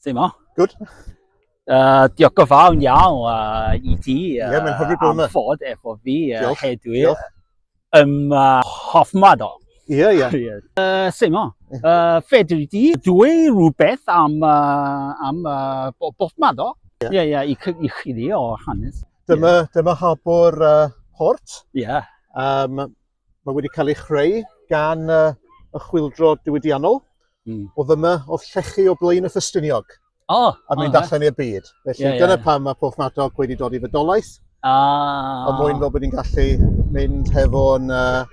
Ddim o. Good. Uh, diolch o fawn iawn uh, i ti uh, yeah, mae'n hyfryd bod yma. am fod efo fi uh, diolch. hedwi diolch. ym uh, Hoffmad o. Ie, ie. Uh, Sut mo? Uh, fedri di dwi rhywbeth am, uh, am uh, Hoffmad o? Ie, yeah. ie, yeah, yeah, i, i chi di o hanes. Dyma, yeah. dyma habwr uh, port. Ie. Yeah. Um, Mae wedi cael ei chreu gan uh, y chwildro diwydiannol. Mm. O ddyma, o llechu o blaen y ffystyniog. O! Oh, a mynd oh, allan i'r byd. Felly yeah, dyna yeah. pam mae Porth Madog wedi dod i fydolaeth. Ah. A mwyn fel bod ni'n gallu mynd hefo'n uh,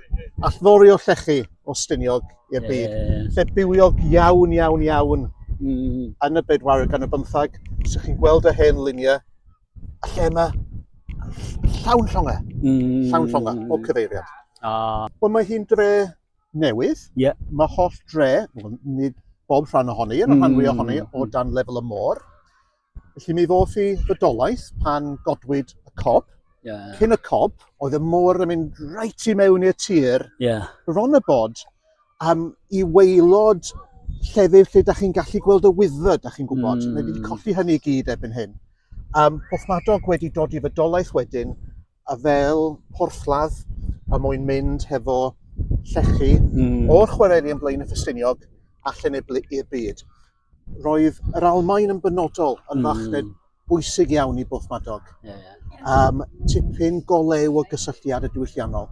allfori o llechu o styniog i'r byd. Yeah. Lle bywiog iawn, iawn, iawn mm. yn y bedwaredd gan y bymthag. Sych chi'n gweld y hen luniau a lle yma, llawn llongau, mm. llawn llongau, o cyfeiriad. Ah. Wel, mae hi'n dre newydd. Yeah. Mae holl dre, nid bob rhan ohoni, yn y rhan fwy ohoni, mm. o dan lefel y môr. Felly mi ddoth i fydolaeth pan godwyd y cob. Yeah. Cyn y cob, oedd y môr yn mynd reit i mewn i'r tir. Yeah. Ron y bod, um, i weilod llefydd lle da chi'n gallu gweld y wyddfa, da chi'n gwybod. Mm. Mae wedi hmm. colli hynny i gyd ebyn hyn. Um, Porthmadog wedi dod i fydolaeth wedyn, a fel porthladd a mwyn mynd hefo llechi mm. o'r chwareli yn blaen y ffestiniog a lleneblu i'r byd. roedd yr Almaen yn benodol yn mm. fachned bwysig iawn i Bwth Madog. Yeah, yeah. Um, tipyn golew o gysylltiad y diwylliannol.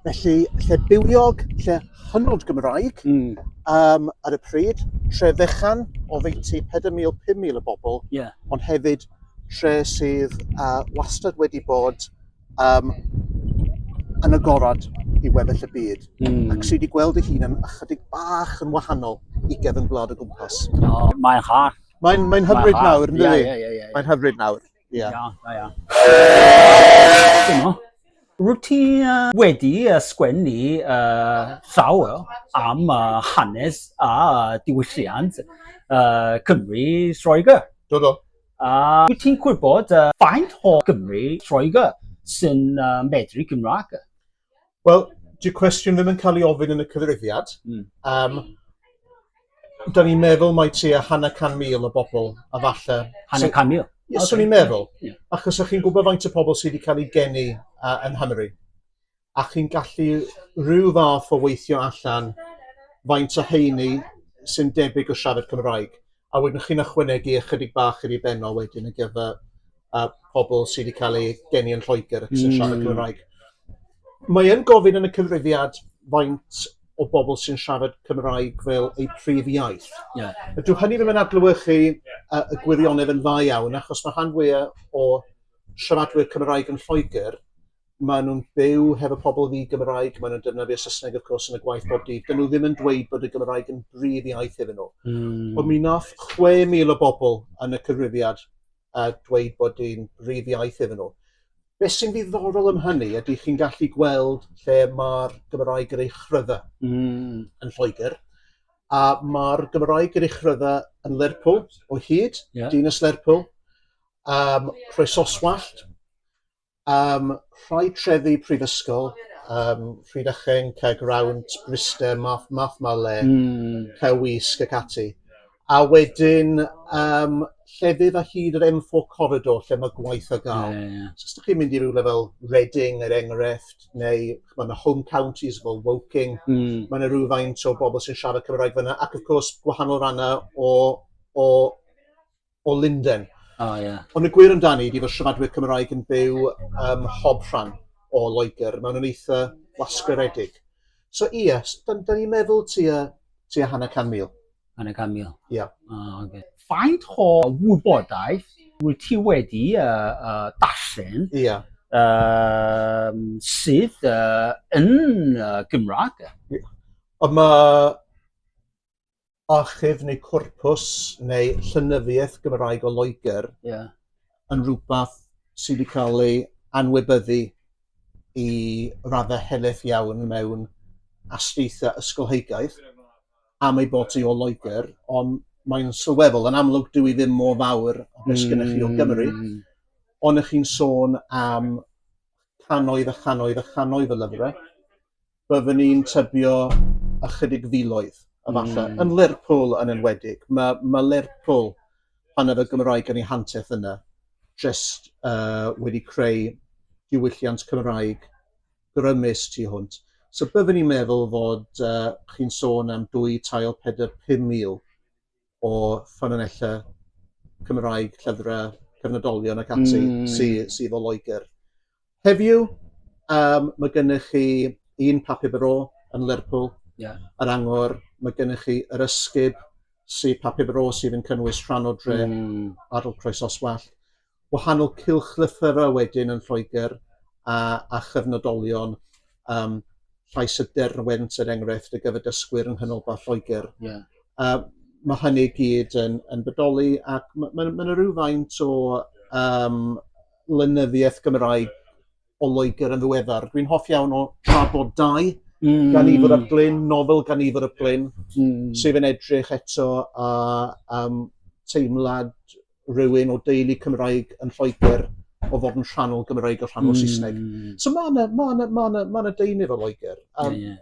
Felly, lle bywiog, lle hynod Gymraeg, mm. um, ar y pryd, tre fechan o feinti 4,000-5,000 o bobl, yeah. ond hefyd tre sydd uh, wastad wedi bod um, yn agorad i weddill y byd. Mm. Ac sydd wedi gweld ei hun yn ychydig bach yn wahanol i gefn gwlad o gwmpas. Oh, mae'n ha. Mae'n mae hyfryd ma nawr, ynddo yeah, yeah, yeah, yeah. Mae'n hyfryd nawr. Yeah. Yeah, yeah, yeah. Dyma. Rwyt ti uh, wedi uh, sgwennu uh, llawer am uh, hanes a diwylliant uh, Cymru Sroegr. Do, do. A wyt ti'n gwybod uh, faint o Gymru Lloegr sy'n uh, medru Cymraeg? Wel, dy'r cwestiwn ddim yn cael ei ofyn yn y cyfrifiad. Mm. Um, da ni'n meddwl mae ti a hanner can mil o bobl a falle... Hanner can mil? Ie, okay. swn i'n meddwl. Yeah. Achos ych chi'n gwybod faint o pobl sydd wedi cael ei geni uh, yn Hymru? a chi'n gallu rhyw fath o weithio allan faint o heini sy'n debyg o siarad Cymraeg. A wedyn chi'n ychwanegu ychydig bach i benno wedyn yn gyfer uh, pobl sydd wedi cael eu geni yn Lloegr ac sy'n mm. siarad hmm. Cymraeg. Mae yn gofyn yn y cyfrifiad faint o bobl sy'n siarad Cymraeg fel eu prif iaith. Yeah. Dwi hynny ddim yn adlywyrchu uh, y gwirionedd yn dda iawn, achos mae rhan fwyaf o siaradwyr Cymraeg yn Lloegr maen nhw'n byw hefo pobl ddi-Gymraeg, maen nhw'n defnyddio Saesneg, of course, yn y gwaith bob dydd. Dyn nhw ddim yn dweud bod y Gymraeg yn brif iaith iddyn nhw. Mm. Ond mi nath 6,000 o bobl yn y cyfrifiad a dweud bod yn brif iaith iddyn nhw. Beth sy'n ddiddorol am hynny ydy chi'n gallu gweld lle mae'r Gymraeg yr ei chrydda mm. yn Lloegr, a mae'r Gymraeg yr ei chrydda yn Lerpwl o hyd, yeah. Dinas Lerpwl, um, Rhoes Oswallt, Ym rhai trefi prifysgol, yym Rhydychen, Caergrawnt, Bryste, Math- Mathmale... Hmm. ...Powys ac ati. A wedyn yym llefydd ar hyd yr em four corridor lle ma' gwaith ar ga'l. Ie ie. So os dych chi'n mynd i rywle fel Reading er enghraifft neu ch'mod y home counties fel Woking... Hmm. ...ma' 'na rywfaint o bobl sy'n siarad Cymraeg fynna ac of course gwahanol ranna o o o Lunden. O, oh, ie. Yeah. Ond y gwir amdani ydy fod siaradwyr Cymraeg yn byw ym mhob rhan o Loegr. Mae'n nhw'n eitha wasgaredig. So, ie, yeah, da, da ni'n meddwl ti a, ti a hanner can mil. Hanner can mil? Ie. Yeah. O, oh, oce. Okay. Faint o wybodaeth wyt ti wedi uh, uh, darllen? Ie. Yeah um, sydd uh, yn uh, Gymraeg. Ond mae archif neu corpws neu llenyddiaeth Gymraeg o Loegr yeah. yn rhywbeth sydd wedi cael ei anwybyddu i raddau helaeth iawn mewn astudiaethau ysgolheigaidd am ei bod hi o Loegr, ond mae'n sylweddol, yn amlwg dwi ddim mor fawr o beth mm. gennych chi o Gymru, mm. ond ych chi'n sôn am canoedd a chanoedd a chanoedd o lyfrau, byddwn ni'n tybio ychydig filoedd, a falle, mm. yn Lerpwl yn enwedig. Mae ma Lerpwl, pan oedd y Gymraeg yn ei hanterth yna, jyst uh, wedi creu diwylliant Cymraeg grymus tu hwnt. So byddwn ni'n meddwl fod uh, chi'n sôn am dwy tael 4-5 mil o ffynonellau Cymraeg, llyfrau, cyfnodolion ac ati... Mm. ...sy sy 'fo Loegr. Heddiw yym ma' gennych chi un Papur Bro yn Lerpwl. Ie. Yr Angor, ma' gennych chi Yr Ysgub sy Papur Bro sydd yn cynnwys rhan o dre... Hmm. ...ardal Croesoswallt. wahanol cylchlythyrau wedyn yn Lloegr a a chyfnodolion yym llais y derwent er enghraifft y gyfer dysgwyr yng Nghanolbarth Lloegr. Ie. A ma' hynny i gyd yn yn bodoli ac ma' ma' ma' 'na rywfaint o yym lenyddiaeth Gymraeg o Loegr yn ddiweddar. Dwi'n hoff iawn o Trafod Dau, mm. gan Ifr ap Glyn, nofel gan Ifr ap Glyn, mm. sef yn edrych eto a um, teimlad rhywun o deulu Cymraeg yn Lloegr o fod yn rhannol Gymraeg o rhannol mm. Saesneg. So mae yna ma ma ma ma deunydd o Loegr. Um, yeah, yeah.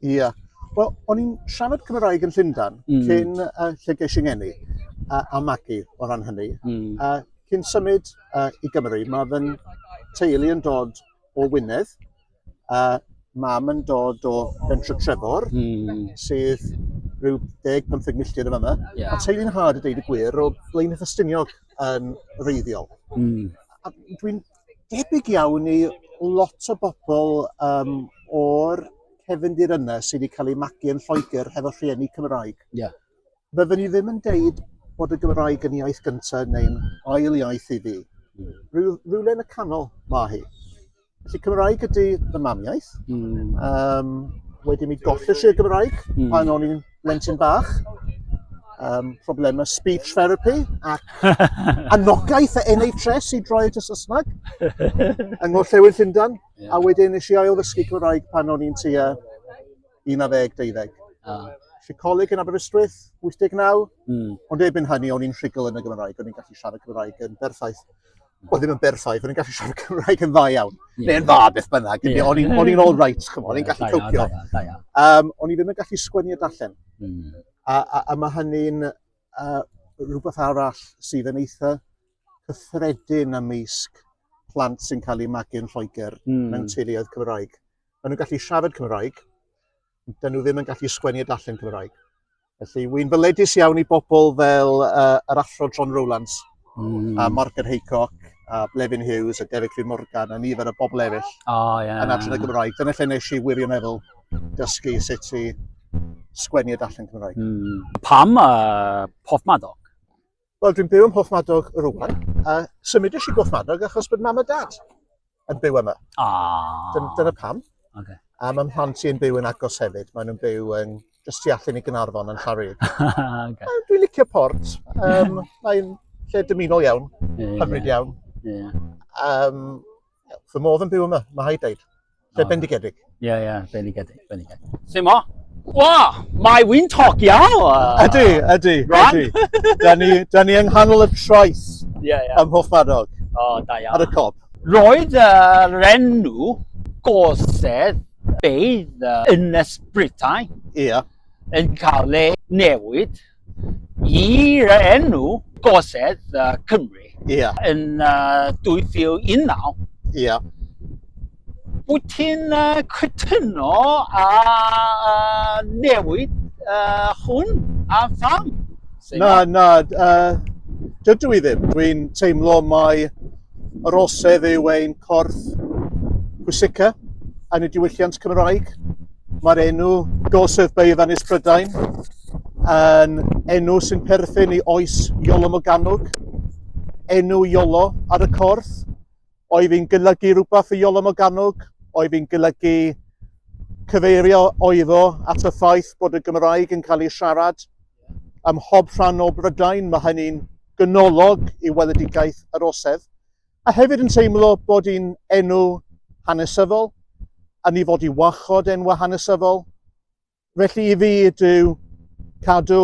Ie. Yeah. Wel, o'n i'n siarad Cymraeg yn Llundan mm. cyn uh, lle ges i'n enni a, a magu o ran hynny. Mm. A cyn symud uh, i Gymru, mae fy teulu yn dod o Wynedd, a mam yn dod o Bentre Trefor, mm. sydd rhyw 10-15 milltir yn yma. Yeah. A teulu'n hard y deud y gwir o Blaen Ffestiniog yn reiddiol. Mm. Dwi'n debyg iawn i lot o bobl um, o'r cefndir yna sydd wedi cael ei magu yn Lloegr hefo rhieni Cymraeg. Yeah. Byddwn ni ddim yn deud bod y Gymraeg yn iaith gyntaf neu'n ail iaith i fi. Mm. Rhyw, rhywle yn y canol mae hi. Felly Cymraeg ydy fy mamiaeth. Mm. Um, wedyn mi golles i'r Gymraeg mm. pan o'n i'n blentyn bach, um, problemau speech therapy ac anogaeth a NHS i droi at y Saesneg yng Ngorllewin Llundan. Yeah. A wedyn nes i ail ddysgu Cymraeg pan o'n i'n tua 19-20. Ah. Felly coleg yn Aberystwyth, 89. Mm. Ond erbyn hynny, o'n i'n rhugl yn y Gymraeg, o'n i'n gallu siarad Cymraeg yn berffaith. oedd ddim yn berffaith, o'n i'n gallu siarad Cymraeg yn dda iawn, yeah. neu'n dda beth bynnag, yeah. o'n i'n yeah. all right, chymod, o'n i'n gallu copio. Um, o'n i ddim yn gallu sgwennu a darllen. Mm. A, a, a mae hynny'n uh, rhywbeth arall sydd yn eitha cyffredin ymysg plant sy'n cael eu magu'n Lloegr mm. mewn teuluoedd Cymraeg. Maen nhw'n gallu siarad Cymraeg, dyn nhw ddim yn gallu sgwennu a darllen Cymraeg. Felly, wy'n fyledus iawn i bobl fel uh, yr athro John Rowlands, mm. a Morgan Haycock, a Blevin Hughes, a Derek Rhys Morgan, a nifer o bobl eraill oh, yeah. yn adran y Gymraeg. Dyna lle nes i wirioneddol dysgu sut i sgwennu y darllen Cymraeg. Mm. Pam uh, pob madoc? Wel, dwi'n byw ym Mhoethmadog rwan, a symud eisiau Mhoethmadog achos bod mam a dad yn byw yma. Ah. Dyn, dyna pam. Okay. A mae mhlant i'n byw yn agos hefyd. Maen nhw'n byw yn just tu allan i Gynarfon yn Llaryd. okay. Dwi'n licio port. Um, mae'n lle dymunol iawn, yeah, hyfryd yeah. iawn. Yeah. Um, Fy modd yn byw yma, mae rhaid dweud. Lle oh. bendigedig. Ie, yeah, ie, yeah, bendigedig, bendigedig. Lle mo? Wa, mae wy'n togio! Ydy, ydy, ydy. da, ni, da ni yng nghanol y troes yeah, yeah. ym Mhoch Madog. O, oh, da iawn. Ar y cob. Roedd uh, renw gosedd beidd uh, yn ysbritau yeah. yn cael ei newid I'r enw Gorsedd uh, Cymru yeah. yn uh, 2019. Yeah. Wyt ti'n uh, cytuno a uh, newid uh, hwn a pham? Na, na, uh, dydw i ddim. Dwi'n teimlo mai yr osedd yw ein corff pwysica yn y diwylliant Cymraeg. Mae'r enw Gorsedd Beirdd Ynys Prydain yn enw sy'n perthyn i oes Iolo Morgannwg. Enw Iolo ar y corff oedd yn golygu rhywbeth i Iolo Morgannwg, oedd yn golygu cyfeirio oeddo at y ffaith bod y Gymraeg yn cael ei siarad ym mhob rhan o Brydain. Mae hynny'n gynolog i weledigaeth yr Orsedd. A hefyd yn teimlo bod hi'n enw hanesyddol, a ni fod i warchod enwau hanesyddol. Felly i fi ydyw cadw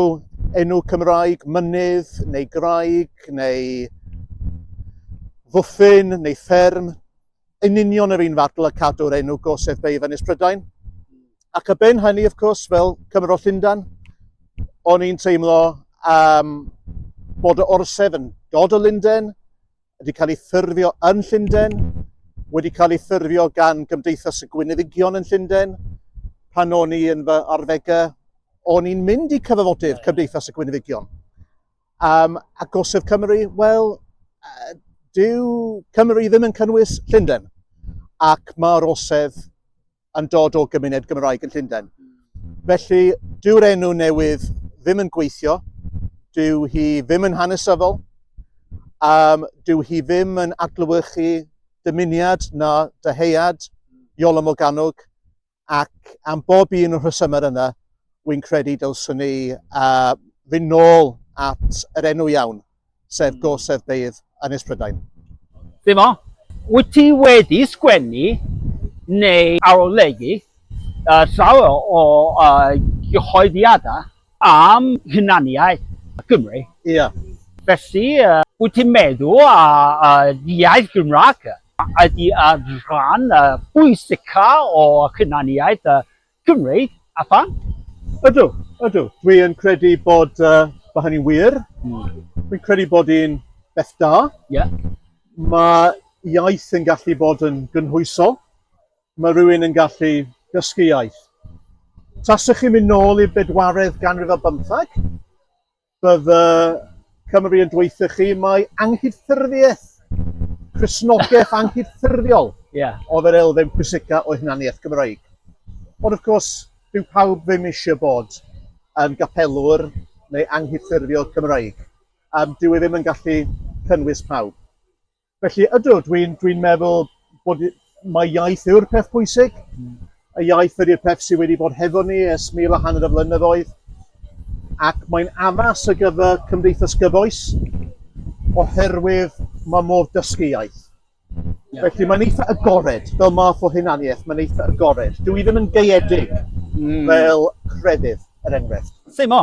enw Cymraeg, mynydd neu graig neu fwthyn neu fferm, yn union yr un fadl a cadw'r enw gosef beif Ynys Prydain. Ac y ben hynny, of course, fel Cymro Llundan, o'n i'n teimlo um, bod y orsef yn dod o Lunden, wedi cael ei ffurfio yn Llundain, wedi cael ei ffurfio gan Gymdeithas y Gwyneddigion yn Llundain. Pan o'n i yn fy arddegau, o'n i'n mynd i cyfafodydd Cymdeithas y Gwyneddigion. Um, a Gosodd Cymru, wel, uh, dyw Cymru ddim yn cynnwys Llundain. Ac mae'r osedd yn dod o gymuned Gymraeg yn Llundain. Felly, dyw'r enw newydd ddim yn gweithio, dyw hi ddim yn hanesyddol, um, dyw hi ddim yn adlewyrchu dymuniad na dyheuad Iolo Morganwg, ac am bob un o'r rhesymau yna, wy'n credu dylswn ni uh, fynd nôl at yr enw iawn. sef Gorsedd Beirdd Ynys Prydain. Dyma, wyt ti wedi sgwennu neu arolygu llawer o gyhoeddiadau am hunaniaeth Cymru. Ia. Felly, wyt ti'n meddwl y iaith Gymraeg ydy rhan bwysicaf o hunaniaeth Cymreig, a phan? Ydw, ydw. Dwi yn credu bod uh, bod hynny'n wir. Mm. Dwi'n credu bod hi'n beth da. Yeah. Mae iaith yn gallu bod yn gynhwysol. Mae rhywun yn gallu dysgu iaith. Taswch chi'n mynd nôl i'r bedwaredd ganrif ar bymthag, Bydd y Cymry yn dweuthu chi mai anghydffurfiaeth, Cristnogaeth anghydffurfiol yeah. oedd yr elfen pwysica o hunaniaeth Gymraeg. Ond wrth gwrs, dyw pawb ddim eisiau bod yn gapelwr neu anghydffurfio Cymraeg. Um, dyw e ddim yn gallu cynnwys pawb. Felly, ydw, dwi'n dwi meddwl bod mae iaith yw'r peth pwysig. Mm. Y iaith ydy'r peth sydd wedi bod hefo ni ers mil a hanner o flynyddoedd. Ac mae'n addas ar gyfer cymdeithas gyfoes oherwydd mae modd dysgu iaith. Yeah. Felly mae'n eitha agored, fel math o hunaniaeth, mae'n eitha agored. Dwi ddim yn gaeedig mm. fel crefydd, er enghraifft. Ddim o.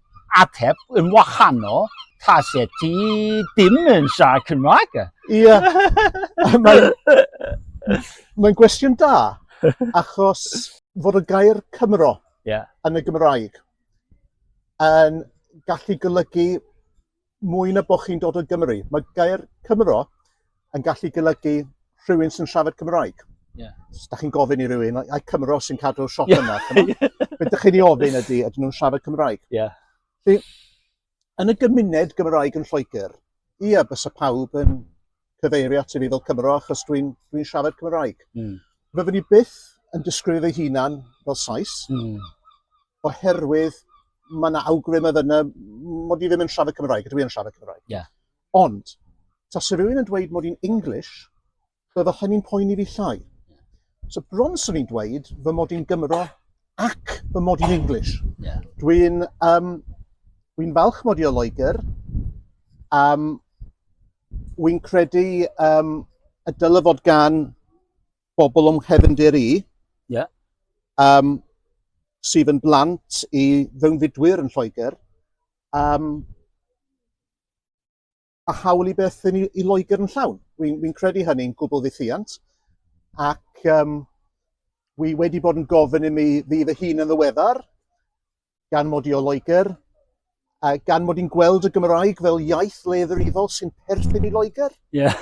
ateb yn wahanol tase ti dim yn siarad Cymraeg. Ie. Mae'n mae gwestiwn da, achos fod y gair Cymro yeah. yn y Gymraeg yn gallu golygu mwy na bod chi'n dod o Gymru. Mae gair Cymro yn gallu golygu rhywun sy'n siarad Cymraeg. Yeah. Os da chi'n gofyn i rywun, ai Cymro sy'n cadw'r siop yeah. yna, beth ydych chi'n ei ofyn ydy, ydyn nhw'n siarad Cymraeg. Yeah. Felly, yn y gymuned Gymraeg yn Lloegr, ia, bysa pawb yn cyfeirio at i fi fel Cymro achos dwi'n dwi siarad Cymraeg. Mm. Rydyn ni byth yn disgrifio ei hunan fel Sais, mm. oherwydd mae yna awgrym oedd yna mod i ddim yn siarad Cymraeg, dwi yn siarad Cymraeg. Yeah. Ond, ta sy'n rhywun yn dweud mod i'n English, bydde hynny'n poeni fi llai. So bron sy'n ni'n dweud fy mod i'n Gymro ac fy mod i'n English. Yeah. Dwi'n um, dwi falch mod i o Loegr, um, wy'n credu um, y dylai fod gan bobl o'n nghefndir i, yeah. um, sydd yn blant i fewnfudwyr yn Lloegr, um, a hawl i beth i, i Loegr yn llawn. Wy'n wy credu hynny'n gwbl ddiffiant, ac um, wy wedi bod yn gofyn i mi fydd y hun yn ddiweddar, gan mod i o Loegr, a gan mod i'n gweld y Gymraeg fel iaith le ddifrifol sy'n perthyn i Loegr. Ie. Yeah.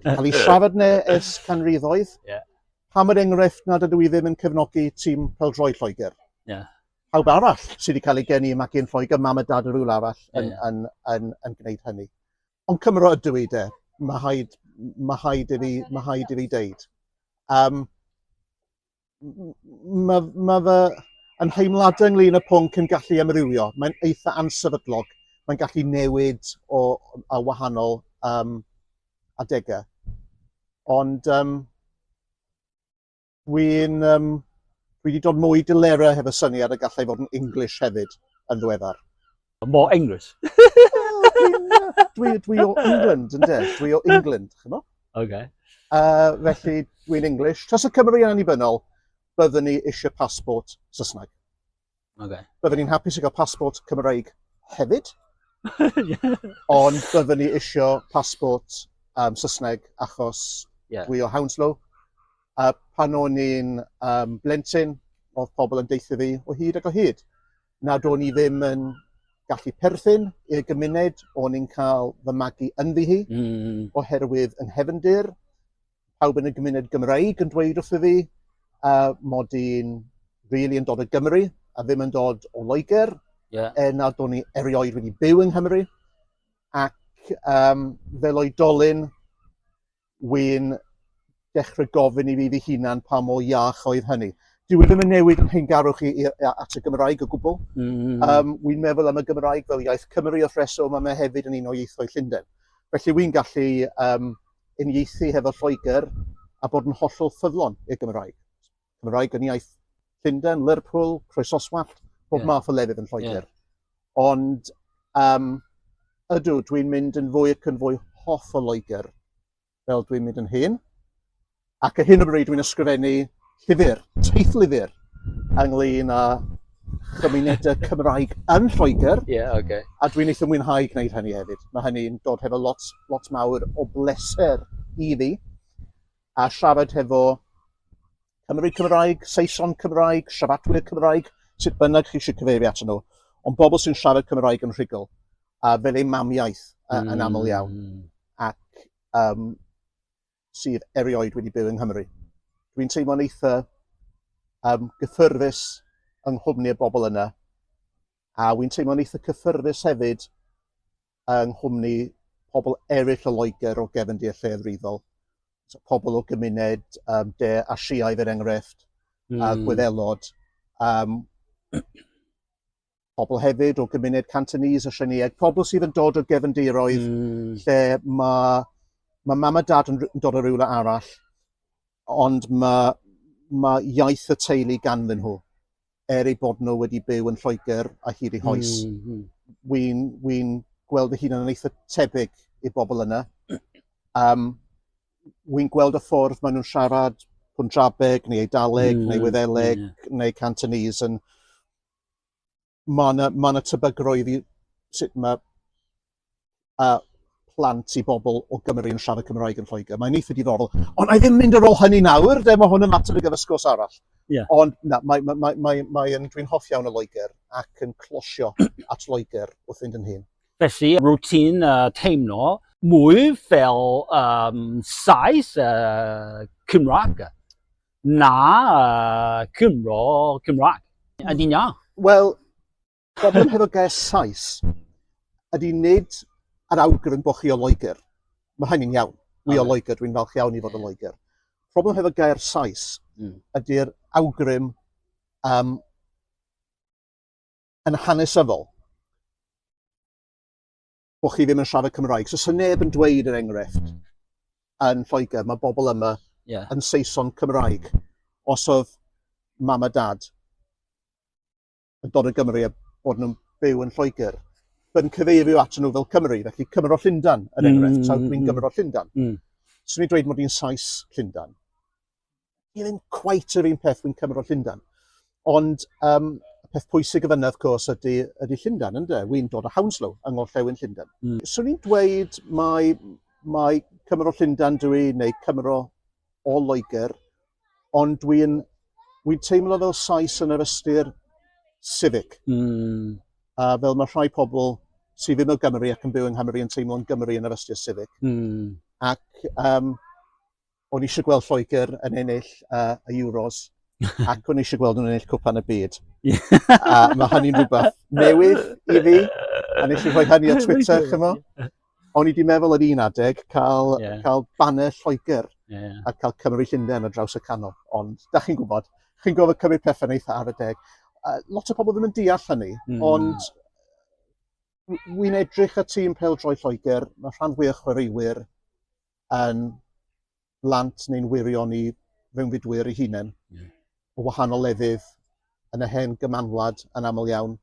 Cael ei siarad ne ers canrifoedd. Ie. Yeah. Pam yr enghraifft nad ydw i ddim yn cefnogi tîm peldroi Lloegr? Ie. Yeah. Pawb arall sydd wedi cael ei geni i magu'n Lloegr, mam a dad yr rhywle arall yn, yeah, yeah. yn, yn, yn, yn gwneud hynny. Ond Cymro ydw i de, mae haid, mae haid i fi, mae haid i fi deud. Um, mae, mae fy ymheimladau ynglyn y pwnc yn gallu amrywio. Mae'n eitha ansefydlog. Mae'n gallu newid o, a wahanol um, adegau. Ond um, dwi'n um, dwi wedi dod mwy dilera hefo syniad y gallai fod yn English hefyd yn ddweddar. More English. dwi, dwi o England, ynddo? Dwi o England, chi'n mo? Okay. Uh, felly, dwi'n English. Tros y Cymru yn annibynnol, byddwn ni eisiau passport Saesneg. Okay. Byddwn ni'n hapus i gael passport Cymraeg hefyd. Ond byddwn ni eisiau passport um, Saesneg achos yeah. dwi o Hounslow. A pan o'n i'n um, blentyn, oedd pobl yn deithio fi o hyd ac o hyd. nad o'n i ddim yn gallu perthyn i'r gymuned, o'n i'n cael fy magu ynddi hi, mm. oherwydd yn hefndir, pawb yn y gymuned Gymraeg yn dweud wrtho fi, uh, mod i'n really yn dod o Gymru, a ddim yn dod o Loegr, yeah. er nad o'n i erioed wedi byw yng Nghymru, ac um, fel oedolyn, wi'n dechrau gofyn i fi fy hunan pa mor iach oedd hynny. Dyw e ddim yn newid yn hyngarwch i, i, at y Gymraeg o gwbl. Mm. Um, wi'n meddwl am y Gymraeg fel iaith Cymru wrth reswm, a mae hefyd yn un o ieithoedd Llundain. Felly wi'n gallu um, unieithu hefo Lloegr a bod yn hollol ffyddlon i'r Gymraeg. Cymraeg yn iaith Llundain, Lerpwl, Croesoswallt, bob yeah. math o lefydd yn Lloegr. Yeah. Ond um, ydw, dwi'n mynd yn fwy ac yn fwy hoff o Loegr fel dwi'n mynd yn hyn. Ac y hyn o bryd dwi'n ysgrifennu llyfr, teithlyfr, lyfr, ynglyn â chymunedau Cymraeg yn Lloegr. Yeah, okay. A dwi'n eitha mwynhau gwneud hynny hefyd. Mae hynny'n dod hefo lot, lot mawr o bleser i fi. a siarad hefo Cymry Cymraeg, Saeson Cymraeg, siaradwyr Cymraeg, sut bynnag chi eisiau cyfeirio at nhw, ond bobl sy'n siarad Cymraeg yn rhugl, a fel ei mamiaeth uh, mm. yn aml iawn, mm. ac um, sydd erioed wedi byw yng Nghymru. Dwi'n teimlo'n eitha um, gyffyrddus yng nghwmni y bobl yna, a wy'n teimlo'n eitha cyffyrddus hefyd yng nghwmni pobl eraill o Loegr o gefndir lleafrifol, so, pobl o gymuned um, de Asiaidd er enghraifft, mm. a hmm. Gwyddelod. Um, pobl hefyd o gymuned Cantonese a Sianiaid, pobl sydd yn dod o gefndiroedd mm. lle mae ma mam a dad yn, yn dod o rywle arall, ond mae ma iaith y teulu ganddyn nhw. er eu bod nhw wedi byw yn Lloegr a hyd eu hoes. Mm, mm. Wy'n wy gweld fy hun yn eitha tebyg i'r bobl yna. Um, wy'n gweld y ffordd maen nhw'n siarad Punjabeg neu Eidaleg mm, neu Wyddeleg yeah. neu Cantonese yn mae yna ma, na, ma na tebygrwydd i sut mae a plant i bobl o Gymru yn siarad Cymraeg yn Lloegr. Mae'n eitha diddorol. Ond i ddim mynd ar ôl hynny nawr, de, mae hwn yn mater o gyfysgwrs arall. Yeah. Ond na, mae, mae, mae, mae, mae yn, dwi'n hoff iawn o Loegr ac yn closio at Loegr wrth fynd yn hyn. Felly, routine uh, teimlo mwy fel um, saes uh, Cymraeg na uh, Cymro Cymraeg. Ydy'n iawn? Wel, Problem hefo gair Sais ydy nid yr awgrym bod chi o Loegr. Mae hynny'n iawn. Wi o Loegr, dwi'n falch iawn i fod o Loegr. Problem hefo gair Sais mm. ydy'r awgrym um, yn hanesyddol bod chi ddim yn siarad Cymraeg. So, sy'n neb yn dweud yr er enghraifft mm. yn Lloegr, mae bobl yma yeah. yn Saeson Cymraeg. Os oedd mam a dad yn dod o Gymru a bod nhw'n byw yn Lloegr, yn cyfeirio at nhw fel Cymru, felly Cymro Llundan, yn mm, enghraifft, tra dwi'n mm. Gymro Llundan. Mm. Swn i'n dweud mod i'n Sais Llundan. Ie, ddim cwait yr un peth dwi'n Cymro Llundan. Ond um, y peth pwysig y fyna, wrth gwrs, ydy, ydy Llundan, ynddo? Wy'n dod o Hounslow, yng Ngorllewin Llundan. Mm. Swn i'n dweud mae, mae Cymro Llundan dwi, neu Cymro o Loegr, ond dwi'n dwi teimlo fel Sais yn yr ystyr civic. Mm. A fel mae rhai pobl sydd ddim o Gymru ac yn byw yng Nghymru yn teimlo'n Gymru yn yr ystyr civic. Mm. Ac um, o'n eisiau gweld Lloegr yn ennill uh, y Euros ac o'n eisiau gweld nhw'n ennill cwpan y byd. a mae hynny'n rhywbeth newydd i fi, a nes i rhoi hynny ar Twitter, chymo. O'n i di meddwl ar un adeg cael, yeah. cael banner Lloegr yeah. a cael Cymru Llundain ar draws y canol. Ond, da chi'n gwybod, chi'n gofod cymryd pethau'n eitha ar y deg. Uh, lot o pobl ddim yn deall hynny, mm. ond wy'n edrych y tîm pel droi Lloegr, mae rhan fwy o chwaraewyr yn blant neu'n wyrion i fewnfudwyr eu hunain, o wahanol lefydd, yn y hen gymanwlad yn aml iawn,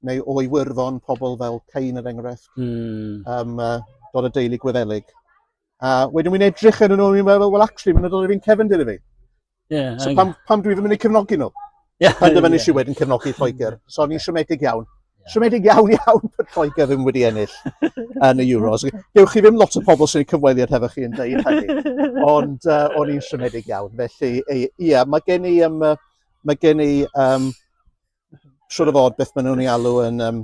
neu o Iwerddon, pobl fel Cain yr er enghraifft, mm. um, uh, dod o deulu Gwyddelig. A wedyn wy'n edrych yn nhw, i'n meddwl, wel, actually, mae'n dod o fi'n cefndir i fi. Yeah, so pam, pam dwi ddim yn ei cefnogi nhw? Yeah, pan dyma nes i wedyn cefnogi Lloegr. So ni'n siomedig iawn. Siomedig iawn iawn bod Lloegr ddim wedi ennill yn y Euros. Dewch chi ddim lot o pobl sy'n cyfweliad hefo chi yn dweud hynny. Ond uh, o'n i'n siomedig iawn. Felly, ie, yeah, mae gen i, um, mae gen i um, siwr o fod beth maen nhw'n ei alw yn um,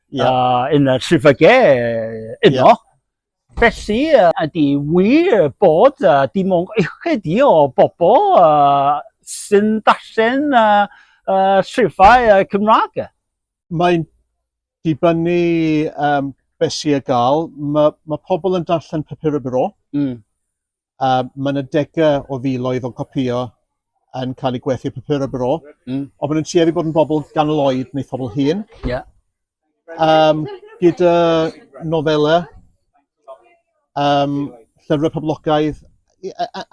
yeah. uh, yn y trifyge yno. Yeah. Felly, uh, ydy wir bod uh, dim ond ychydig i o bobl uh, sy'n darllen uh, uh, trifau uh, Cymraeg? Mae'n dibynnu um, beth sy'n gael. Mae ma pobl yn darllen papur y bro. Mm. A mae yna degau o filoedd o'n copïo yn cael eu gwerthu papurau bro. Mm. Ond maen nhw'n tueddu bod yn bobl ganol oed neu phobl hŷn. Ie. Yeah. Um, gyda nofelau, um, llyfrau poblogaidd,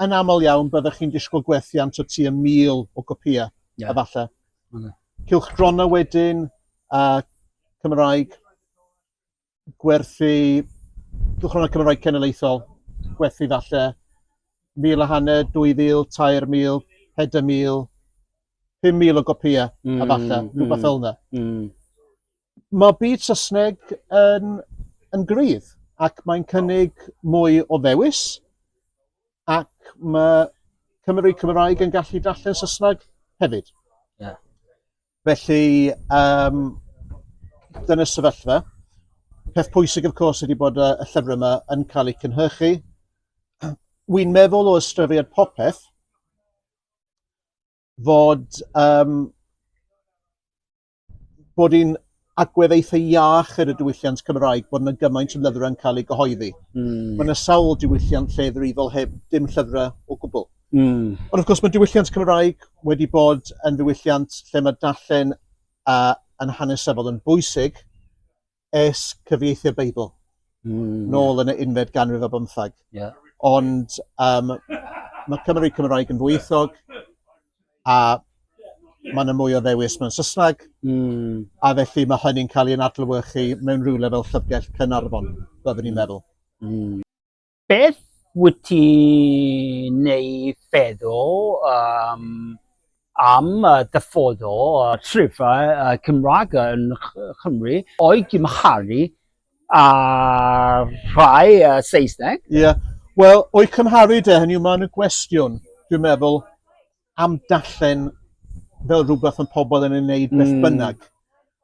yn aml iawn byddwch chi'n disgwyl gwerthiant o tu y mil o gopïau, yeah. efallai. Mm. Cylch dronau wedyn, a Cymraeg, gwerthu cylchgronau Cymraeg cenedlaethol, gwerthu falle 1,000 a hanner, 2,000, 3,000, 4,000, 5,000 o gopïau mm, a falle, mm, rhywbeth fel yna. Mm. Mae byd Saesneg yn, yn gryf ac mae'n cynnig mwy o ddewis ac mae Cymru Cymraeg yn gallu darllen Saesneg hefyd. Yeah. Felly, um, dyna sefyllfa. Peth pwysig, of course, ydy bod y, y llyfrau yma yn cael eu cynhyrchu. Wy'n meddwl o ystyried popeth fod, um, bod i'n agwedd eitha iach ar y diwylliant Cymraeg bod yna gymaint o lyfrau yn cael eu gyhoeddi. Mm. Mae yna sawl diwylliant lle ddrifol heb dim llyfrau o gwbl. Mm. Ond wrth gwrs mae diwylliant Cymraeg wedi bod yn ddiwylliant lle mae darllen uh, yn hanesyddol yn bwysig es cyfieithu'r Beibl. Mm. Nôl yn y unfed ganrif o bymthag. Yeah. Ond um, mae Cymru Cymraeg yn fwythog. a mae yna mwy o ddewis mewn Saesneg, mm. a felly mae hynny'n cael ei adlewyrchu mewn rhywle fel Llyfrgell Cynarfon, byddwn i'n meddwl. Mm. Beth wyt ti neu feddwl um, am uh, dyfodol uh, trefau uh, Cymraeg yn Chymru o'i gymharu A rhai uh, Saesneg. Ie. Yeah. Wel, o'i cymharu de, hynny yw, mae'n gwestiwn, dwi'n meddwl, am dallen fel rhywbeth yn pobl yn ei wneud beth mm. bynnag.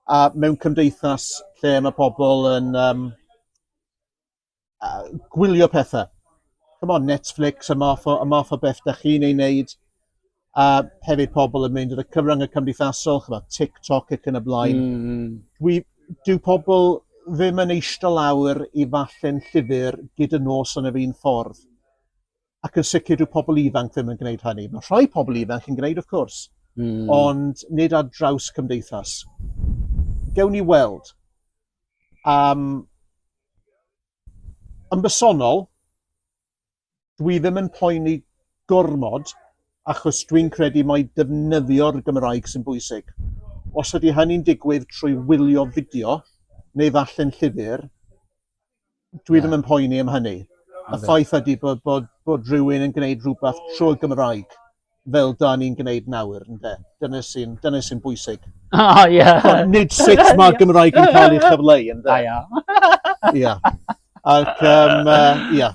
A mewn cymdeithas lle mae pobl yn um, uh, gwylio pethau. Come on, Netflix, y math o, y math o beth da chi'n ei wneud. a hefyd pobl yn mynd yn y cyfrwng y cymdeithasol, chyfod, TikTok ac yn y blaen. Mm. mm. Dwi, dyw pobl ddim yn eistedd lawr i falle'n llyfr gyda nos yn y fi'n ffordd. Ac yn sicr dyw pobl ifanc ddim yn gwneud hynny. Mae rhai pobl ifanc yn gwneud, wrth cwrs, mm. ond nid ar draws cymdeithas. Gewn ni weld. Um, yn bersonol, dwi ddim yn poeni gormod achos dwi'n credu mai defnyddio'r Gymraeg sy'n bwysig. Os ydy hynny'n digwydd trwy wylio fideo neu ddarllen llyfr, dwi ddim yn poeni am hynny. Y ffaith ydy bod, bod, bod rhywun yn gwneud rhywbeth trwy'r Gymraeg fel da ni'n gwneud nawr, ynde? Dyna sy'n dyna sy'n bwysig. O, oh, ie. Yeah. Ond nid sut mae yeah. Gymraeg yn cael ei chyfleu, ynde? Da iawn. Ia. Ac, um, uh, ia.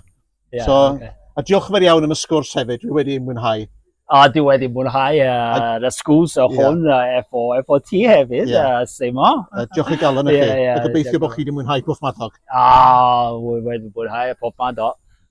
Yeah, so, okay. A diolch yn fawr iawn am y sgwrs hefyd, dwi wedi mwynhau. A dwi wedi mwynhau uh, y sgwrs o hwn yeah. efo, efo ti hefyd, yeah. uh, Simo. Uh, diolch i galon i chi. Yeah, yeah, a gobeithio bod chi wedi mwynhau pob madog. A, oh, wedi mwynhau pob madog.